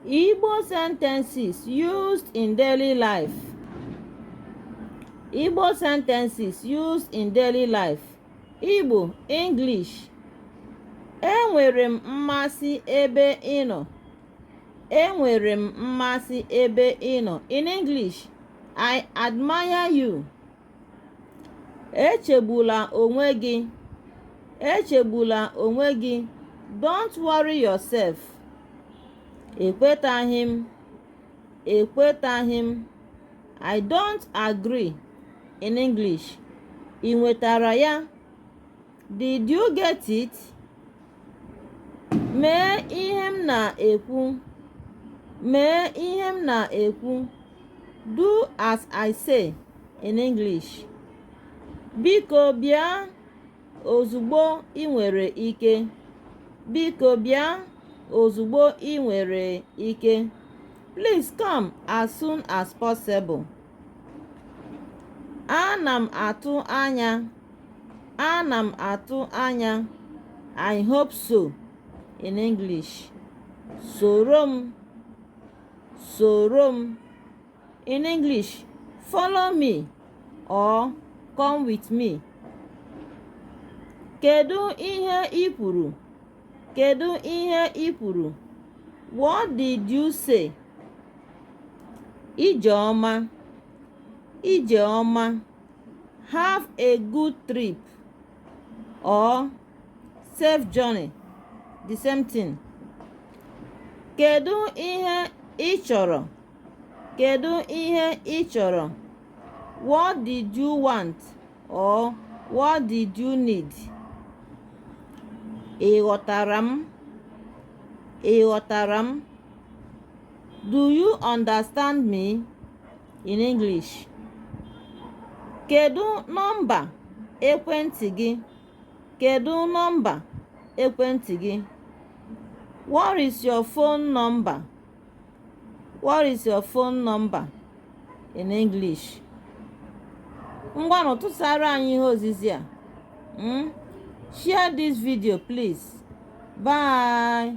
Igbo sentences used in daily life. Igbo sentences used in daily life. Igbo, English. Enwere m mmasị ebe ị nọ. Enwere m mmasị ebe ị nọ. In English, I admire you. echegbula onwe gị echegbula onwe gị don't worry yourself ekwetaghị m ekwetaghị m i don't agree in english ị nwetara ya Did you get it? Mee ihe m na-ekwu. Mee ihe m na-ekwu. Do as I say in English. Biko bịa ozugbo ị nwere ike. Biko bịa ozugbo ị nwere ike. Please come as soon as possible. Ana m atụ anya. Ana m atụ anya. I hope so in English. Soro m. Soro m. In English, follow me or come with me. Kedu ihe i kwuru? Kedu ihe i kwuru? What did you say? Ije ọma. Ije ọma, have a good trip or safe journey the same thing. Kedu ihe ị chọrọ? Kedu ihe ị chọrọ? What did you want or what did you need? Ị ghọtara m? Ị ghọtara m? Do you understand me? In English. Kedu nọmba ekwentị gị? Kedu nọmba ekwentị gị? What is your phone number? What is your phone number in English? Ngwanụ tụsara anyị ihe ozizi a. Hmm? Share this video please. Bye.